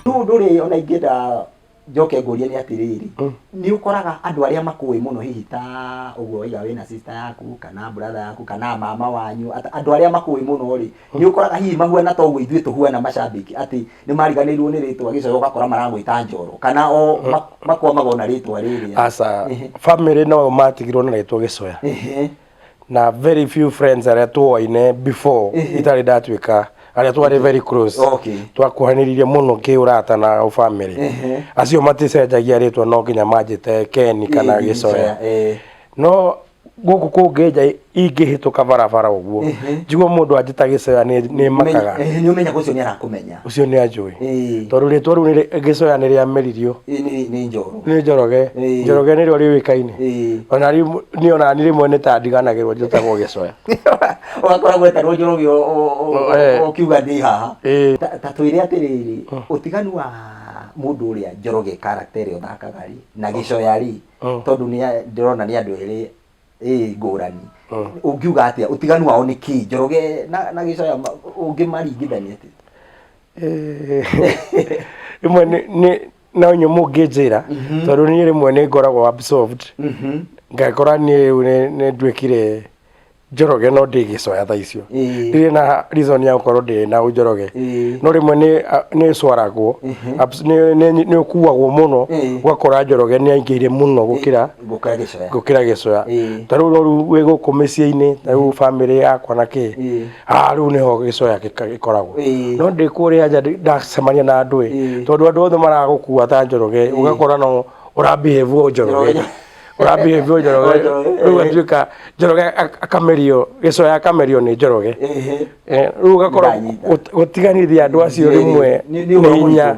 rĩu ũndũ ũrĩa ona ingĩenda njoke ngũrie nĩ atĩrĩrĩ Mm. nĩ ũkoraga andũ arĩa makũĩ mũno hihi ta ũguo waiga wĩna sista yaku kana brother yaku kana mama wanyu ata- andũ arĩa makũĩ mũno rĩ nĩ ũkoraga hihi mahuana ta ũguo ithuĩ tũhuana macambĩki atĩ nĩ mariganĩirwo nĩ rĩtwa gĩcoyo ũgakora maragwĩta njoro kana o ma- makwamaga ona rĩtwa rĩrĩa aca Ehe. bamĩrĩ no matigirwo nĩ rĩtwa gĩcoya Ehe. na very few friends arĩa tuoaine before itarĩ ndatuĩka arĩa twarĩ very close Okay. twakuhanĩrĩirie mũno kĩũrata na ũbamĩrĩ acio maticenjagia rĩtwa no nginya manjĩte keni kana gĩcoya Eh. no gũkũ kũngĩ nja ingĩhĩtũka barabara ũguo njigua mũndũ anjĩta gĩcoya nĩ- nĩ makaga Eh, nĩ ũmenya ũcio nĩ arakũmenya ũcio nĩ anjũĩ Ĩĩ. tondå rä two rä u gä coya nä rä ameririo Ĩĩ, nĩ- nĩ njoro nä njoroge Ĩĩ. njoroge nä rä o rä wä kainä Ĩĩ. ona rĩu- niĩ ona nä rä mwe nä ta ndiganagä rwo njätagwo gä coya ũgakora gwetarwo njoroge o- o- o- Eh. o- ũkiuga ndĩ haha Ĩĩ. Ta- ta twĩre atĩrĩrĩ ũtiganu wa mũndũ ũrĩa njoroge karakta ĩrĩa ũthakaga rĩ na gĩcoya rĩ Mm. tondũ nĩ a- ndĩrona nĩ andũ erĩ ĩ ngũrani Mm. ũngiuga atĩa ũtiganu wao nĩ kĩĩ njoroge na na gĩcoya ma- ũngĩmaringithania atĩa Eh, rĩmwe nĩ- nĩ no nyũ mũngĩnjĩra Mhm. tondũ niĩ rĩmwe nĩ ngoragwo absorbed Mhm. ngakora niĩ rĩu nĩ- nĩ nduĩkire njoroge no ndĩ gĩcoya tha icio Ĩĩ. ndirĩ na reason ya gũkorwo ndĩ na njoroge Ĩĩ. no rĩmwe nĩ- a- nĩ cwaragwo Mhm. Abs- nĩ- nĩ nĩ ũkuagwo mũno Ĩĩ. ũgakora njoroge nĩ aingĩire mũno gũkĩra ngũkĩra gĩcoya gũkĩra gĩcoya Ĩĩ. ta rĩu rĩu wĩ gũkũ mĩciĩ-inĩ ta rĩu bamĩrĩ yakwa na kĩ Ĩĩ. ah rĩu nĩho gĩcoya gĩka- gĩkoragwo Ĩĩ. no ndĩ kũrĩa nja ndĩ- ndacemania na andũ ĩ Ĩĩ. tondũ andũ othe maragũkua ta njoroge ũgakora no ũrambihĩvuo njoroge Njoroge. ũrambihĩvuo njoroge O njoroge, rĩu ĩĩ. atuĩka njoroge ak- akamerio gĩcoya akamerio nĩ njoroge Ĩhĩ. Eh, rĩu ũgakora Ndanyita. gũt- gũtiganithia andũ acio Ĩĩ. rĩmwe Nĩ- nĩ nĩ ũhoro hinya mũritũ.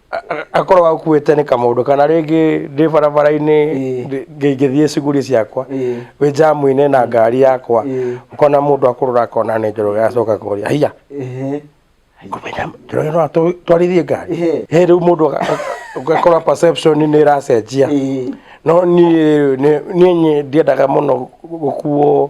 akorwo akuĩte nĩ kamũndũ kana rĩngĩ ndĩ barabara-inĩ Ĩĩ. ndĩ- ngĩ- ngĩthiĩ cuguri ciakwa Ĩĩ. wĩ njamu-inĩ na ngari yakwa Ĩĩ. ũkona mũndũ akũrora akona nĩ njoroge acoka kũria hiya Ehe. ngũmenya njoroge no atũ- twarithie ngari Ĩĩ. he rĩu mũndũ aga- aga- ũgakora perception nĩ ĩracenjia Ĩĩ. no niĩ nĩ- niĩ nye- ndiendaga mũno gũkuo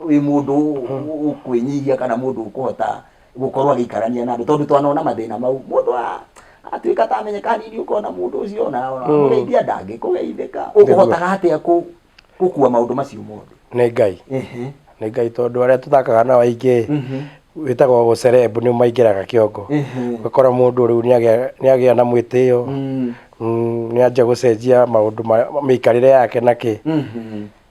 wĩ mũndũ ũkwĩnyihia kana mũndũ ũkũhota gũkorwo agĩikarania na andũ tondũ twanona mathĩna mau mũndũ a- atuĩka atamenyeka nini ũkona mũndũ ũcio ona ona mũgeithia ndangĩkũgeithĩka ũkũhotaga atĩa kũ- gũkua maũndũ macio mothe nĩ ngai Ehe. nĩ ngai tondũ arĩa tũthakaga nao aingĩ wĩtagwo gũcerebu nĩ maingĩraga kĩongo Ehe. ũgakora mũndũ rĩu nĩagĩa- nĩagĩa na mwĩtĩo Mm. Mm, nĩanjia gũcenjia maũndũ ma- mĩikarĩre yake nakĩ Mhm.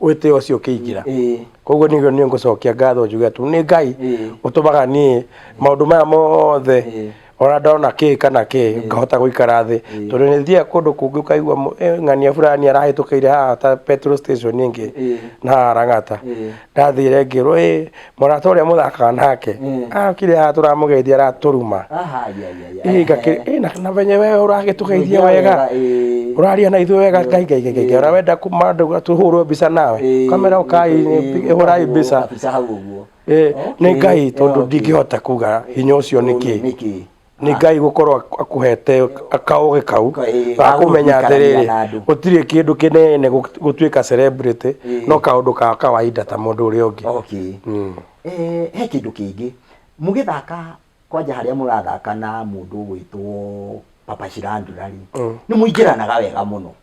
wĩtĩo ũcio ũkĩingĩra Ĩĩ. koguo nĩguo nĩ ngũcokia ngatho njuge atĩ nĩ ngai Ĩĩ. ũtũmaga niĩ maũndũ maya mothe Ĩĩ. ona ndona kĩ kana kĩ ngahota gũikara thĩ tondũ nĩ thiaga kũndũ kũngĩ ũkaigua mũ- eh, ng'ania fulani arahĩtũkĩire haha ta petrol station ĩngĩ Ĩĩ. na harang'ata Ĩĩ. ndathire ngĩrwo ĩ mũrata ũrĩa mũthakaga nake Mm. akire haha tũramũgeithia aratũruma Aha, ya, ya, ya. Ĩ, ngakĩ- ĩ, na- na venye wewe ũragĩtũgeithia wega ĩ. ũraria na ithuĩ wega ngai ngai ngai ngai ona wenda kuma andũ tũhũrwo mbica nawe Ĩ, kamera ĩ, ũkai ĩ, hũrai ũguo, mbica kabica hau ũguo. Ĩ, nĩ Okay, ngai tondũ okay. ndingĩhota kuga hinya ũcio nĩkĩ Nĩkĩ? nĩ ngai gũkorwo akũhete kaũgĩ kau Ka- ĩĩ, ga ga kũmenya gũikarania atĩrĩrĩ na andũ. gũtirĩ kĩndũ kĩnene gũ- gũtuĩka celebrity no kaũndũ ka kawaida ta mũndũ ũrĩa ũngĩ okay Mm. eh, he kĩndũ kĩngĩ mũgĩthaka kwanja harĩa mũrathaka na mũndũ ũgwĩtwo papa cirandurari nĩ mũingĩranaga wega mũno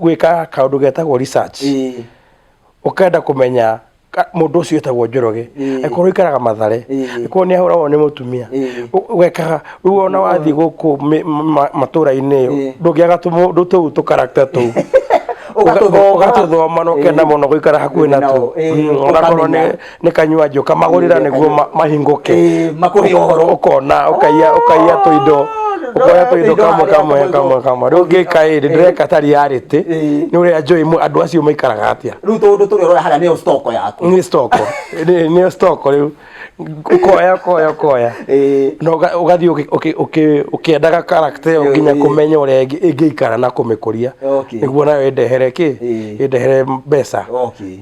gwĩka kaũndũ getagwo research Ĩĩ. ũkenda kũmenya ka- mũndũ ũcio etagwo njoroge Ĩĩ. akorwo ikaraga mathare Ĩĩ. akorwo nĩ ahũragwo nĩ mũtumia Ĩĩ. Ũ- ũgekaga rĩu ona wathiĩ gũkũ mĩ- ma- matũra-inĩ Ĩĩ. ndũngĩaga tũmũ- ndũ- tũu tũkarakta tũu Ũgatũthoma. ũgatũthoma na ũkenda Ĩĩ. mũno gũikara hakuhĩ Ĩĩ, natuo nao, ĩĩ, Mm, onakorwo nĩ ũkamenya. nĩ kanyua njoka magũrĩra nĩguo ma- mahingũke Eh, makũhe ũhoro. ũkona ũkaiya ũkaiya tũindo ũkoya tũindo kamwe kamwe kamwe kamwe rĩu ngĩka ĩrĩ ndĩreka tari ya rĩtĩ Eh. nĩ ũrĩa njũĩ mũ- andũ acio maikaraga atĩa rä u tå ndå tå rä haga nä yo stoko yaku nĩ stoko Nĩ- nĩ stoko rĩu ũkoya ũkoya ũkoya Eh. na ũga- ũgathiĩ ũkĩ- ũkĩ- ũkĩ- ũkĩendaga karakta ĩyo nginya Eh. kũmenya ũrĩa ĩngĩ- ĩngĩikara na kũmĩkũria Okay. nĩguo nayo ĩndehere kĩ Eh. ĩndehere mbeca Okay.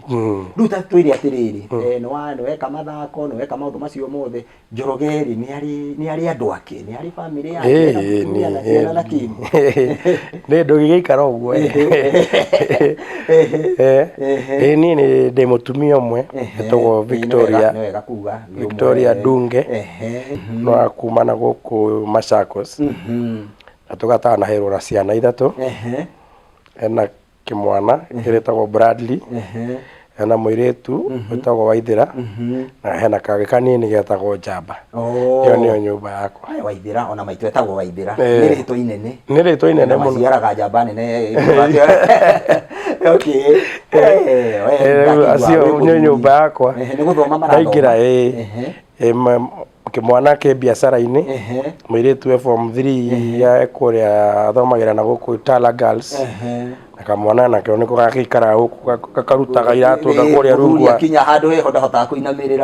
Rĩu ta twĩre atĩrĩrĩ, eh, nĩwa- nĩweka mathako, nĩweka maũndũ macio mothe, Njoroge-rĩ, nĩarĩ- nĩarĩ andũ ake, nĩarĩ bamĩrĩ yake, Ĩni, ena mũtumia na ciana na kĩni. ĩni. Nĩ ndũgĩgĩikara ũguo ĩ. Eh, ĩ niĩ nĩ ndĩ mũtumia ũmwe etagwo Victoria Nĩ wega kuga. nĩ ũmwe. Victoria Ndunge Ehe. no akuma na gũkũ Machakos Mhm. na tũgatanaherwo na ciana ithatũ Ehe. ena kĩmwana kĩrĩtagwo Bradley Ehe. hena mũirĩtu wĩtagwo Waithĩra na hena kangĩ kanini getagwo Njamba Oh. ĩyo nĩyo nyũmba yakwa Ai, waithira ona maitũ etagwo waithira Eh. nä rä two inene nĩ rĩtwa inene mũno maciaraga njamba nene acio nĩ nyũmba yakwa nä gå thoma ndaingĩra ĩ ĩ, ma- kĩmwana kĩ biacara-inĩ Ehe. mũirĩtu e form 3 ya kũrĩa athomagĩra na gũkũ Tala Girls Ehe. na kamwana nakeo nĩko gagĩikara gũkũ ga- gakarutaga iratũ na kũrĩa rungu Mũthuri wa- akinya handå heho ndahotaga kå inamä Eh.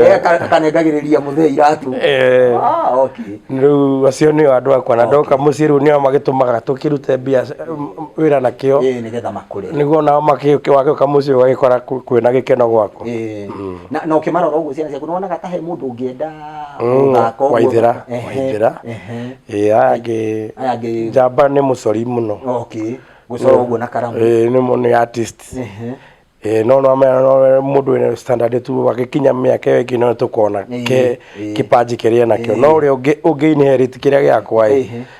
rä kanengagä må thee iratå Eh, Ah, okay. rĩu acio nĩo andũ akwa na ndoka mũciĩ rĩu nĩo magĩtũmaga tũkĩrute mbia wä ra nakĩo Ĩĩ, nĩgetha makå re nĩguo nao makĩwagĩũka mũciĩ ũgagĩkora kwĩna gĩkeno gwaku Ĩĩ. Na, na ũkĩmarora ũguo ciana ciaku nĩwonaga ta he mũndũ ũngĩenda gũthaka ũguo. waithĩra Ehe, waithĩra ehe. ĩĩ aya angĩ Aya angĩ- njamba nĩ mũcori mũno Okay. Gũcora ũguo na karamu. Ĩĩ, nĩ mũ- nĩ artist Ehe. Ĩĩ, no no mena- no we- mũndũ wĩna standard tu agĩkinya mĩaka ĩyo ĩngĩ no tũkona Ĩĩ, ke ĩĩ. kĩpanji kĩrĩa nakĩo no ũrĩa ũngĩ- ũngĩinherit kĩrĩa gĩakwa ĩ Ĩhĩ.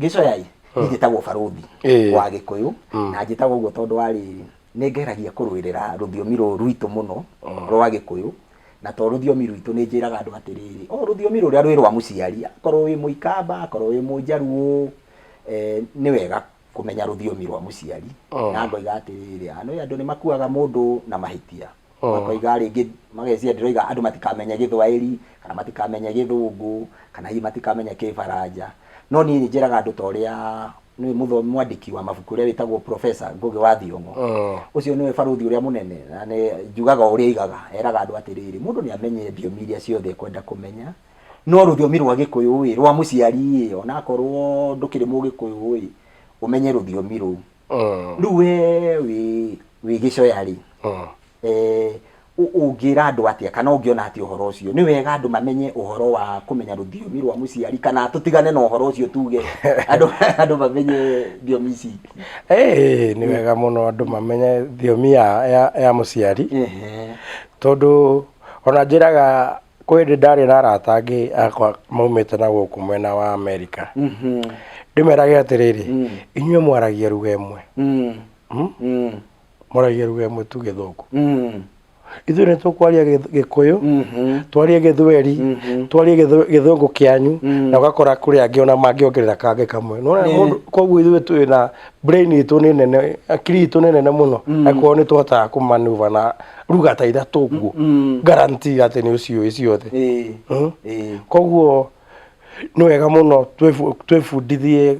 gĩcoyai niĩ njĩtagwo barũthi Ĩĩ. wa gĩkũyũ na njĩtagwo ũguo tondũ wa rĩrĩ nĩ ngeragia kũrũĩrĩra rũthiomi rũrũ rwitũ mũno rwa gĩkũyũ na to rũthiomi rwitũ nĩ njĩraga andũ atĩrĩrĩ o rũthiomi rũrĩa rwĩ rwa mũciari akorwo wĩ mũikamba akorwo wĩ mũjaruo eh, nĩ wega kũmenya rũthiomi rwa mũciari na ngoiga atĩrĩrĩ "Ah, nĩ andũ nĩ makuaga mũndũ na mahĩtia Oh. makoiga rĩngĩ mageciria ndĩroiga andũ matikamenye gĩthwaĩri kana matikamenye gĩthũngũ kana hihi matikamenya kĩbaranja no niĩ njĩraga andũ ta ũrĩa nĩ mũtho- mwandĩki wa mabuku ũrĩa wĩtagwo profesa ngũgĩ wa thiong'o Oh. ũcio nĩwe barũthi ũrĩa mũnene na nĩ- njugaga ũrĩa aigaga eraga andũ atĩrĩrĩ mũndũ nĩ amenye thiomi iria ciothe ekwenda kũmenya no rũthiomi rwa gĩkũyũ ĩ rwa mũciari ĩ onakorwo ndũkĩrĩ mũgĩkũyũ ĩ ũmenye rũthiomi rũu Mm. rĩu we wĩ wĩ gĩcoya rĩ Mm. eh, ũ- ũngĩra andũ atĩa kana ũngĩona atĩa ũhoro ũcio nĩ wega andũ mamenye ũhoro wa kũmenya rũthiomi rwa mũciari kana tũtigane na ũhoro ũcio tuge andũ andũ mamenye thiomi ici Ĩĩ, nĩ wega mũno andũ mamenye thiomi ya, ya, ya mũciari Ehe. tondũ ona njĩraga kwĩ hĩndĩ ndarĩ na arata angĩ akwa maumĩte na gũkũ mwena wa amerika ndĩmerage atĩrĩrĩ inyuĩ mwaragia ruga ĩmwe Hmm? mwaragia ruga ĩmwe tu gĩthũngũ ithuĩ nĩ tũkwaria gĩth- gĩkũyũ twarie gĩthweri twarie gĩthũ- gĩthũngũ kĩanyu na ũgakora kũrĩ angĩ ona mangĩongerera kangĩ kamwe Nĩ wona mũndũ- koguo ithuĩ twĩ na brain itũ nĩ nene akiri itũ nĩ nene mũno akorwo nĩ tũhotaga kũmanuva na ruga ta ithatũ ũguo guarantee atĩ nĩ ũciũĩ ciothe Ĩĩ. Mm. Ĩĩ. koguo nĩ wega mũno twĩbu- twĩbundithie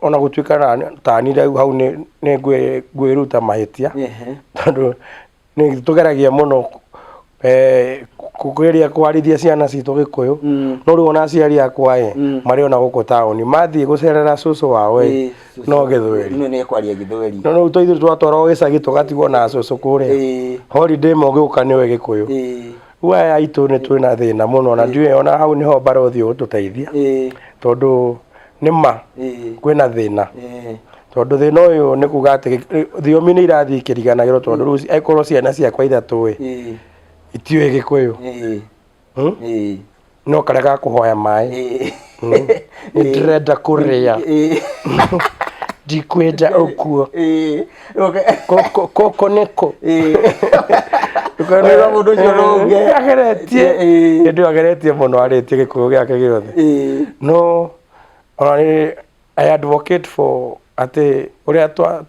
ona gũtuĩka na- tani rĩu hau nĩ- nĩ ngwĩ- ngwĩruta mahĩtia Ehe. tondũ nĩ tũgeragia mũno eh, kũgeria kwarithia ciana citũ gĩkũyũ Mm. no rĩu ona aciari akwa ĩ Mm. marĩ ona gũkũ taũni mathiĩ gũcerera cũcũ wao ĩ Ĩĩ, cũcũ. no gĩthweri Ino nĩ kwaria gĩthweri no rĩu tũithuĩ twatwarwo gĩcagi tũgatigwo na cũcũ kũrĩa Ĩĩ, holiday ĩmwe ũgĩũka nĩwe gĩkũyũ ĩĩ, rĩu aya aitũ nĩ twĩna thĩna mũno na ndiũĩ ona hau nĩho mbarothi ũgũtũteithia ĩĩ. tondũ nĩ ma ĩĩ kwĩna thĩna ĩĩ tondũ thĩna ũyũ nĩ kuga atĩ gĩ- thiomi nĩ irathiĩ ikĩriganagĩrwo tondũ rĩu angĩkorwo ciana ciakwa ithatũ ĩ ĩĩ itiũĩ gĩkũyũ ĩĩ hmm? ĩĩ no karĩa ga kũhoya maĩ ĩĩ nĩ ndĩrenda kũrĩa ĩĩ ndikwenda ũkuo ĩĩ Oke. Koko- koko niko Eh. Wĩra mũndũ ũcio no ũge. ageretie Eh. ĩndĩ ageretie mũno arĩtie gĩkũyũ gĩake gĩothe Eh. no ona nĩ i advocate for atĩ ũrĩa twa-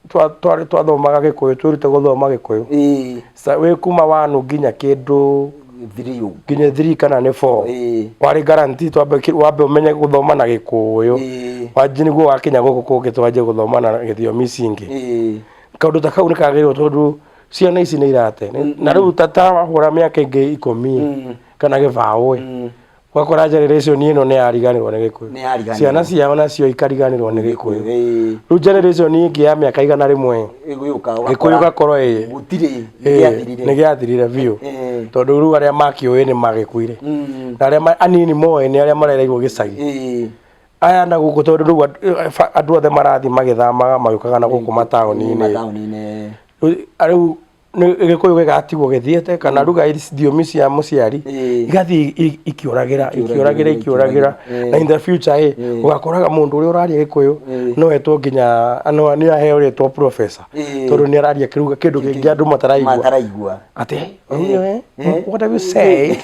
twa- twarĩ twathomaga gĩkũyũ twĩrute gũthoma gĩkũyũ Eh. Sa- wĩ kuma wanu nginya kĩndũ thiri ũguo nginya thiri kana nĩ four Ĩĩ. warĩ garanti twambe ki- wambe ũmenye gũthoma na gĩkũyũ Ĩĩ. wanji nĩguo wakinya gũkũ kũngĩ twanjie gũthoma na gĩthiomi ici ingĩ Ĩĩ. kaũndũ ta kau nĩ kagĩrĩirwo tondũ ciana ici nĩ irate na rĩu ta ta wahũra mĩaka ĩngĩ ikũmi kana gĩbaũ ĩ ũgakora generation ĩno nĩ yariganĩrwo nĩ gĩkũyũ Nĩ yariganĩrwo. ciana ciao nacio ikariganĩrwo nĩ gĩkũyũ Ĩĩ, rĩu generation ĩngĩ ya mĩaka igana rĩmwe gĩgĩũka gĩkũyũ ũgakora gakorwo ĩĩ gũtirĩ ĩĩ, gĩathirire. nĩ gĩathirire biũ Ĩĩ. tondũ rĩu arĩa makĩũĩ nĩ magĩkuire Mm, na arĩa ma- anini moĩ nĩ arĩa marereirwo gĩcagi ĩĩ, aya na gũkũ tondũ rĩu andũ- eh, fa- andũ othe marathiĩ magĩthamaga magĩũkaga na gũkũ mataũni-inĩ mataũni-inĩ. Rĩu- rĩu nĩ- gĩkũyũ gĩgatigwo gĩthiĩte kana ruga iria thiomi cia mũciari Ĩĩ. igathiĩ i- i- ikĩũragĩra ikĩũragĩra ikĩũragĩra Ĩĩ. na in the future ĩ ũgakoraga mũndũ ũrĩa ũraria gĩkũyũ Ĩĩ. no etwo nginya no- nĩ aheo rĩtwa professor Ĩĩ. tondũ nĩ araria kĩruga kĩndũ kĩngĩ andũ mataraigua mataraigua atĩ "Eh, eh, what have you said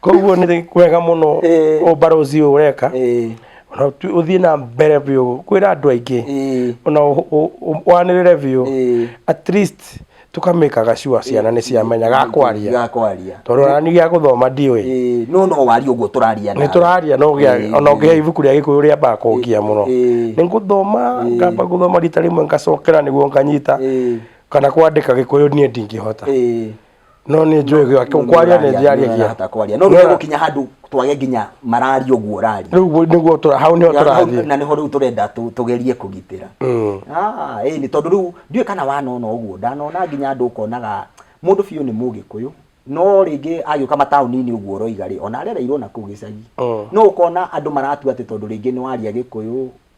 koguo nĩ kwega mũno Ĩĩ. ũmbarozi ũyũ ũreka Ĩĩ. Ona tu- ũthiĩ na mbere biũ kwĩra andũ aingĩ Ĩĩ. ona ũ- ũ- ũ- wanĩrĩre biũ Ĩĩ. at least tũkamĩkaga sure ciana nĩ ciamenya gakwaria gakwaria tondũ nani gĩa gũthoma ndiũĩ Ĩĩ, no no waria ũguo tũraria nĩ nawe. tũraria no Ĩĩ, gĩa- ona ũngĩhe ĩĩ. ibuku rĩa gĩkũyũ rĩambaga kũngia mũno Ĩĩ. nĩ ngũthoma ngamba gũthoma rita rĩmwe ngacokera nĩguo nganyita Ĩĩ. kana kwandĩka gĩkũyũ niĩ ndingĩhota Ĩĩ. no nĩ njũĩ gĩake kwaria nĩ njĩaria kia hata kwaria no rĩu gũkinya handũ twage nginya mararia ũguo ũraria rĩu ũguo nĩguo tũra hau nĩho Hau- tũrathiĩ na nĩho rĩu tũrenda tũ- tũgerie kũgitĩra Mm. Ah, ĩĩ, nĩ tondũ rĩu ndiũĩ kana wanona ũguo ndanona nginya andũ ũkonaga mũndũ biũ nĩ mũgĩkũyũ no rĩngĩ agĩũka mataũni-inĩ ũguo ũroiga rĩ ona arereirwo na kũu gĩcagi Mm. no ũkona andũ maratua atĩ tondũ rĩngĩ nĩ waria gĩkũyũ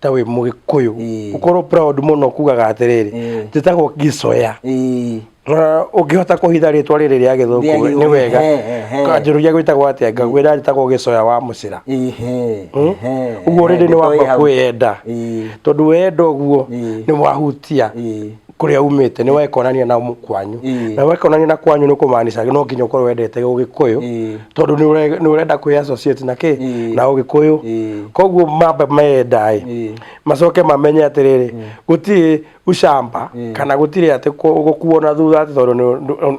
ta wĩ mũgĩkũyũ Ĩĩ. ũkorwo proud mũno kugaga atĩrĩrĩ Ĩĩ. njĩtagwo gicoya Ĩĩ. Na ũngĩhota kũhitha rĩtwa rĩrĩ rĩa Rĩa gĩthũngũ Gĩthũngũ, nĩ wega he, he, he. kanjũrũria gwĩtagwo atĩa ngagwĩra njĩtagwo gĩcoya wa mũcĩra Ehe, Hmm? ehe, ũguo ehe, rĩrĩ nĩ nĩtũĩ wamba hau. kwĩyenda Ĩĩ. tondũ wenda ũguo Ĩĩ. nĩ wahutia Ĩĩ. kũrĩa umĩte nĩ wekonania na mũ- kwanyu Ĩĩ. na wekonania na kwanyu nĩ kũmaanisha no nginya ũkorwo wendete ũgĩkũyũ Ĩĩ. tondũ nĩ ũre- nĩ ũrenda kwĩ associate na kĩ Ĩĩ. na ũgĩkũyũ Ĩĩ. koguo mamba menda ĩ Ĩĩ. macoke mamenye atĩrĩrĩ gũtirĩ ucamba kana gũtirĩ atĩ kũ- gũkuona thutha atĩ tondũ nĩ- nĩ-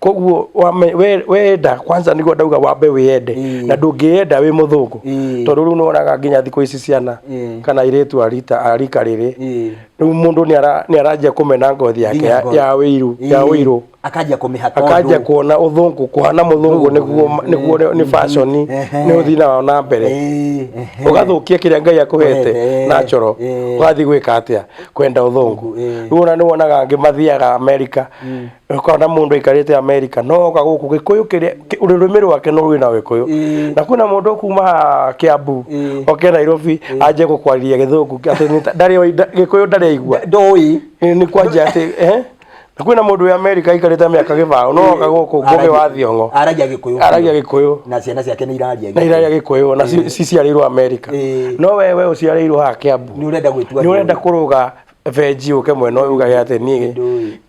koguo wame- we- wenda kwanza niguo ndauga wambe wĩyende Ĩĩ. na ndũngĩyenda wĩ mũthũngũ Ĩĩ. tondũ rĩu nĩwonaga nginya thikũ ici ciana Ĩĩ. kana irĩtu arita arika rĩrĩ Ĩĩ. rĩu mũndũ nĩara- nĩaranjia kũmena ngothi yake Nginya ya ngothi. ya wĩiru ya Ĩĩ. wĩiru akanjia kũmĩhaka akanjia ũndũ. kuona ũthũngũ kuhana mũthũngũ nĩguo nĩguo nĩ- nĩ fashion Ehe. nĩ ũthii nayo na mbere Ĩĩ, ehe. ũgathũkia kĩrĩa ngai akũhete Ũhete, na coro eh. ũgathiĩ gwĩka atĩa kwenda ũthũngũ Ĩĩ. rĩu ona nĩ wonaga angĩ mathiaga amerika ũkona na mũndũ aikarĩte amerika no oka gũkũ gĩkũyũ kĩrĩa kĩ- rũrĩmĩ rwake no rwĩ na gĩkũyũ Ĩĩ. na kwĩna mũndũ kuma haha kĩambu Ĩĩ. oke nairobi anjie gũkwarĩria gĩthũngũ atĩ nĩ ta- ndarĩ oĩ- nda- gĩkũyũ ndarĩ aigua ndoĩ Ĩĩ, nĩ kwanjia atĩ eh? na kwĩna mũndũ wĩ amerika aikarĩte mĩaka gĩbaũ no oka gũkũ ngũgĩ wa thiongo aragia gĩkũyũ aragia gĩkũyũ na ciana ciake nĩ iraria na iraria gĩkũyũ na ci- ciciarĩirwo amerika Ĩĩ. no we we ũciarĩirwo haha kĩambu nĩ ũrenda gwĩtua nĩ ũrenda kũrũga benji ũke mwena ũyũ ugage atĩ niĩ Ndũĩ.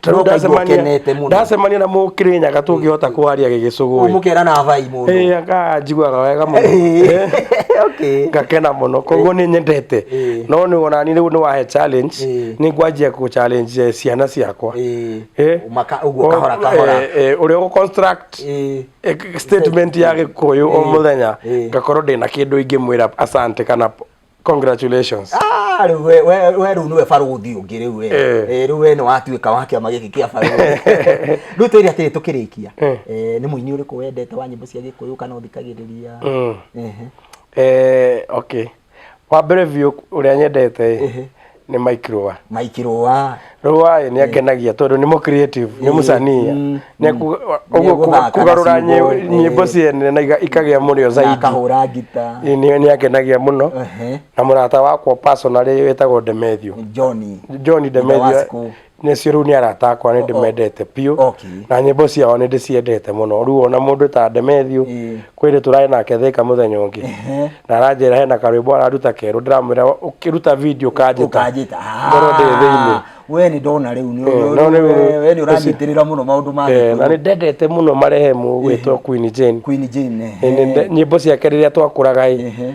Ta rĩu Ũkaigua ndacemania- ũkenete mũno. ndacemania na mũkĩrĩnyaga tũngĩhota kwaria gĩgĩcũgũ ũmũkera na vai mũndũ ĩ anga njiguaga wega mũno Eh, okay ngakena mũno koguo nĩ nyendete Eh. no nĩ wona ni rĩu nĩ wahe challenge Eh. nĩ ngwanjia kũ challenge eh, ciana ciakwa Eh, Eh. maka- ũguo kahora kahora Eh, eh, ũrĩa ũgũ construct Eh, eh, statement ya gĩkũyũ o Eh. mũthenya Eh. ngakorwo ndĩna kĩndũ ingĩmwĩra asante kana congratulations Ah, rĩu we- we- we rĩu nĩwe barũthi ũngĩ rĩu we. Eh. Eh, rĩu we nĩ watuĩka wa kĩama gĩkĩ kĩa barũthi rĩu twĩre atĩrĩ tũkĩrĩkia Eh. Eh, nĩ mũini ũrĩkũ wendete wa nyĩmbo cia gĩkũyũ kana ũthikagĩrĩria Mm. Ehe. Eh, okay wa mbere biũ ũrĩa nyendete Ehe. nĩ mike rũa mike rũa rũa ĩ, nĩ angenagia tondũ nĩ mũ creative nĩ mũcania mm, Nĩ aku- ũguo Nĩegũthaka na kũgarũra ciugo, nyĩ- ĩ. nyĩmbo ciene na iga- ikagĩa mũrĩo na zaidi akahũra ngita Ĩ, nĩ nĩ angenagia mũno Ehe. na mũrata wakwa personally wĩtagwo demethio johni john demethio Ndawasiku. nĩcio rĩu nĩ arata akwa nĩ ndĩmendete biũ Okay. na nyĩmbo ciao nĩ ndĩciendete mũno rĩu ona mũndũ ta ndemethiũ Ĩĩ. kwĩrĩ tũrarĩ nake thĩka mũthenya ũngĩ na aranjĩra hena karwĩmbo araruta kerũ ndĩramwĩra ũkĩruta video ũkanjĩta ukanjita ngoro ndĩ thĩinĩ we nä ndona rä u Eh, no rĩu- we nä å ranyitä rä ra må no maå ndå ma Eh, na nĩ ndendete mũno marehemu gwĩtwo Queen Jane Queen Jane, Eh, nĩ eh. nde- nyĩmbo ciake rĩrĩa twakũraga ĩ Ehe.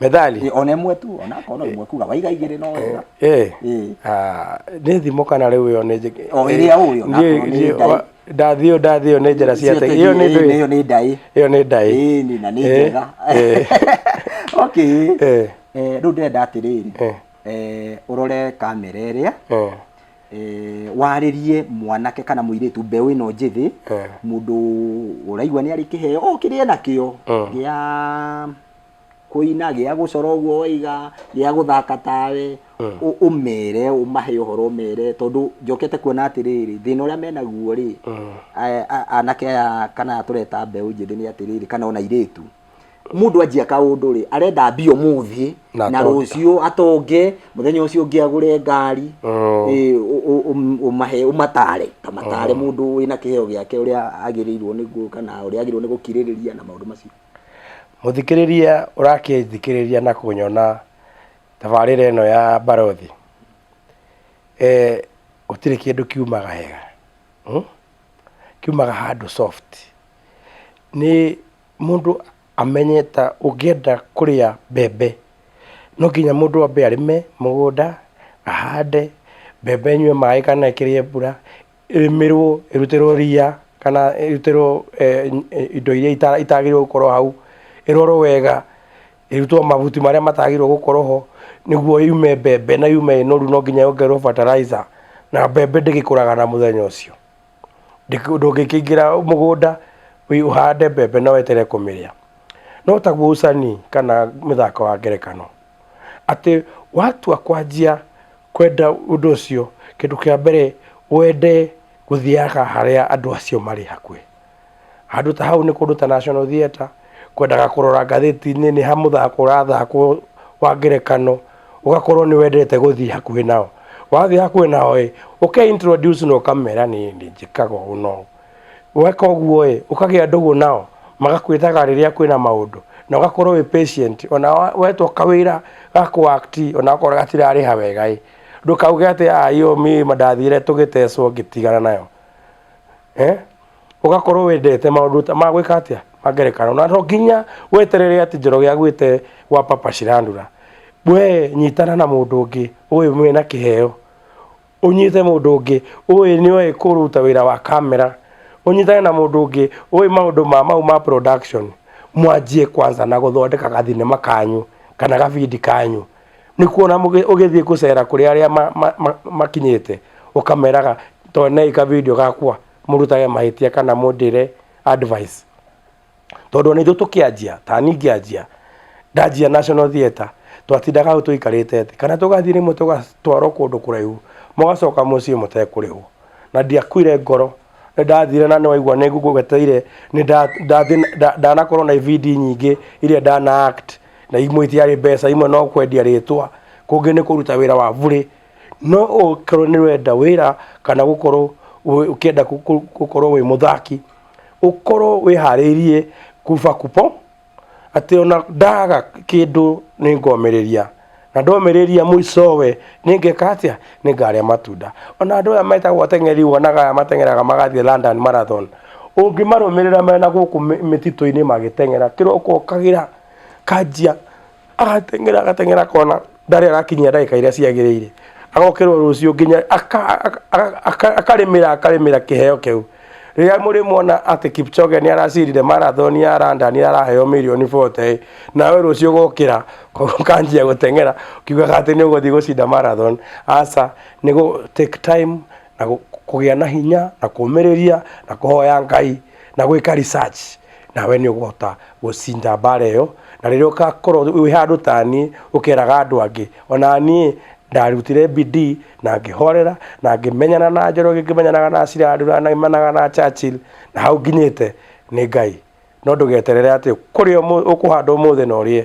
methali ona ĩmwe tu ona akorwo ĩmwe kuga waiga igĩrĩ no wega Eh. Ĩĩ. Ah, nĩ thimo kana rĩu ĩyo nĩ njĩ- O ĩrĩa ũĩ, ona Ndiũĩ- akorwo nĩ ndiũĩ- ndaĩ. wa- ndathio ndathio nĩ njĩra cia tegi ĩyo nĩ Ĩĩ, ndũĩ ĩyo nĩ ndaĩ ĩyo nĩ ndaĩ Ĩĩ, nĩ na nĩ Ĩĩ, njega ĩĩ. okay Ĩĩ. Eh, rĩu ndĩrenda atĩrĩrĩ Ĩĩ. Eh, ũrore kamera ĩrĩa Ĩĩ. eh, warĩrie mwanake kana mũirĩtu mbeũ ĩno njĩthĩ Eh. mũndũ ũraigua nĩ arĩ kĩheo o kĩrĩa nakĩo Mm. gĩa kũina gĩa gũcora ũguo waiga gĩa gũthaka tawe Mm. ũ- ũmere ũmahe ũhoro ũmere tondũ njokete kuona atĩrĩrĩ thĩna ũrĩa menaguo rĩ Mm. a- a- anake aya kana tũreta mbeũ njĩthĩ nĩ atĩrĩrĩ kana ona irĩtu mundu anjia kaundu ri arenda mbia umuthi Na na atonge. ruciu atonge muthenya ucio ungi agure ngari Mm. Eh, u- u- um- umahe umatare kamatare mundu wina kiheo giake uria agirirwo ni guka na uria agirwo ni gukiririria na maundu macio muthikiriria urakithikiriria na kunyona tabarira ino ya barothi eh utire kindu kiumaga hega hmm? kiumaga handu soft ni mũndũ amenye ta ũngĩenda kũrĩa mbembe, no nginya mũndũ ambe arĩme mũgũnda, ahande, mbembe ĩnyue maĩ kana ĩkĩrĩe mbura, ĩrĩmĩrwo, ĩrutĩrwo ria kana ĩrutĩrwo indo iria itagĩrĩirwo gũkorwo hau, ĩrorwo wega, ĩrutwo mahuti marĩa matagĩrĩirwo gũkorwo ho, nĩguo yume mbembe na yume ĩ noru no nginya yongererwo bataraitha, na mbembe ndĩgĩkũraga na mũthenya ũcio. ndũngĩkĩingĩra mũgũnda ũhande mbembe na weterere kũmĩrĩa. No taguo ũcani kana mũthako wa ngerekano, atĩ watua kwanjia kwenda ũndũ ũcio, kĩndũ kĩa mbere wende gũthiaga harĩa andũ acio marĩ hakuhĩ. Handũ ta hau nĩ kũndũ ta National Theatre, kwendaga kũrora ngathĩti-inĩ nĩ ha mũthako ũrathakwo wa ngerekano, ũgakorwo nĩ wendete gũthiĩ hakuhĩ nao. Wathiĩ hakuhĩ nao ĩ, ũke introduce na ũkamera niĩ nĩ njĩkaga ũũ na ũũ. Weka ũguo ĩ, ũkagĩa ndũgũ nao, magakwĩtaga rĩrĩa kwĩna maũndũ, na ũgakorwo wĩ patient. O na wetwo kawĩra ga kũ act o na okorwo gatirarĩha wega ĩ, ndũkauge atĩ aah ĩyo mĩ mandathiĩte tũgĩtecwo ngĩtigana nayo. ũgakorwo wendete maũndũ ta ma gwĩka atĩa ma ngerekano na to nginya weterere atĩ njoroge agwĩte gwa papa cirandura we nyitana na mũndũ ũngĩ ũyũ mwĩna kĩheo ũnyite mũndũ ũngĩ ũyũ nĩ oĩ kũruta wĩra wa kamera ũnyitane na mũndũ ũngĩ ũyũ maũndũ ma mau ma production mwanjie kwanza na gũthondeka gathinema kanyu kana gabindi kanyu nĩ kuona mũgĩ- ũgĩthiĩ gũcera kũrĩ arĩa ma- ma- ma- makinyĩte ũkameraga tondũ nĩ kabindi gakwa mũrutage mahĩtia kana mũndĩre advice tondũ ona ithuĩ tũkĩanjia ta niĩ ngĩanjia ndanjia national theatre twatindaga hau tũikarĩte thĩ kana tũgathiĩ rĩmwe tũgatwarwo kũndũ kũraihu mũgacoka mũciĩ mũtekũrĩhwo na ndiakuire ngoro nĩ ndathire na nĩ waigua nĩ ngũgweteire nĩ nda- ndathĩ- nda- ndanakorwo na ibindi nyingĩ iria ndana act na imwe itiarĩ mbeca imwe no kwendia rĩtwa kũngĩ nĩ kũruta wĩra wa burĩ no ũkorwo nĩ wenda wĩra kana gũkorwo ũkĩenda gũkorwo wĩ mũthaki ũkorwo wĩharĩirie kuba kubo atĩ ona ndaga kĩndũ nĩ ngomĩrĩria na ndomĩrĩria mũicowe nĩ ngeka atĩa nĩ ngarĩa matunda ona andũ aya metagwo ateng'eri wonaga aya mateng'eraga magathiĩ London Marathon ũngĩmarũmĩrĩra mena gũkũ mĩtitũ-inĩ magĩteng'era kĩroko ũkagĩra kanjia agateng'era agateng'era akona ndarĩ arakinyia ndagĩka iria ciagĩrĩire agokĩrwo rũciũ nginya aka- aka- aka- aka- akarĩmĩra akarĩmĩra kĩheo kĩu rĩrĩa mũrĩmuona atĩ kipchoge nĩ aracindire marathon ya randa nĩ araheo mirioni 40 nawe rũciũ ũgokĩra ũkanjia gũteng'era ukiugaga atĩ nĩ ũgũthiĩ gũcinda marathon aca nĩ gũ take time na gu- kũgĩa na hinya na kũmĩrĩria na kũhoya ngai na gwĩka research nawe nĩ ũkũhota gũcinda mbara ĩyo na rĩrĩa ũgakorwo wĩ handũ ta niĩ ũkeraga andũ angĩ ona niĩ ndarutire bidii na ngĩhorera na ngĩmenyana na njoroge ngĩmenyanaga na cirandura na ngĩmenyanaga na Churchill na hau nginyĩte nĩ ngai no ndũgeterere atĩ kũrĩa ũmũ- ũkũhanda ũmũthĩ na ũrĩe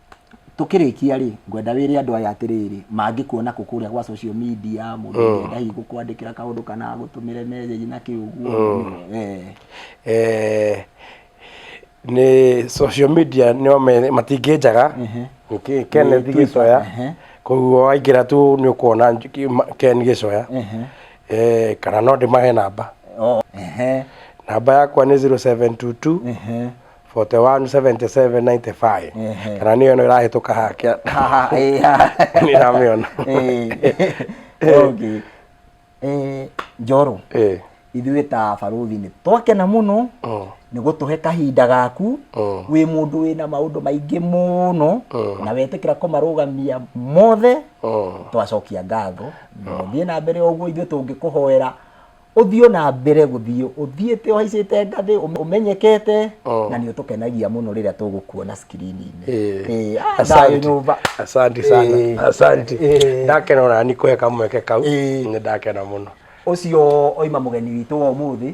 Tũkĩrĩkia rĩ, ngwenda wĩre andũ aya atĩrĩrĩ, mangĩkuona kũ kũrĩa gwa social media, mũndũ mm. ũngĩenda hihi gũkwandĩkĩra kaũndũ kana agũtũmĩre message na kĩ ũguo. Mm. Eh. Eh, nĩ social media nĩo matingĩnjaga, nĩkĩ Kenneth Gĩcoya, koguo waingĩra tu nĩ ũkuona Ken Gĩcoya, eh, kana no ndĩmahe namba. Oh. Namba yakwa nĩ 0722 41 77 95 Ehe. kana nä yo no ä rahä tå ka hakä Haha, eh, haha. nä ramä ona Eh, okay. Eh, njoro Ĩ, ithuĩ ta baruthi nĩ twakena mũno mm, nĩ gũtũhe kahinda gaku Mm. wĩ mũndũ wĩna maũndũ maingĩ mũno Mm. na wetĩkĩra kũmarũgamia mothe mm. twacokia ngatho thiĩ na mbere ũguo ithuĩ tũngĩkũhoera ũthiĩ o na mbere gũthiĩ ũthiĩte ũhaicĩte ngathĩ ũme- ũmenyekete Oh. na nĩ ũtũkenagia mũno rĩrĩa tũgũkuona skrini-inĩ Eh, Eh, ah, asante. thayũ nyũmba asante Eh, sana asante eh. ndakena ona ni kwe kamweke kau Eh. nĩ ndakena mũno ũcio oima mũgeni witũ wa ũmũthĩ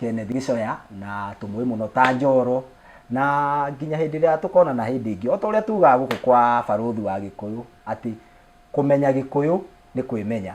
Kenneth Gĩcoya na tũmũĩ mũno ta njoro na nginya hĩndĩ ĩrĩa tũkonana hĩndĩ ĩngĩ o ta ũrĩa tugaga gũkũ kwa barũthi wa gĩkũyũ atĩ kũmenya gĩkũyũ nĩ kwĩmenya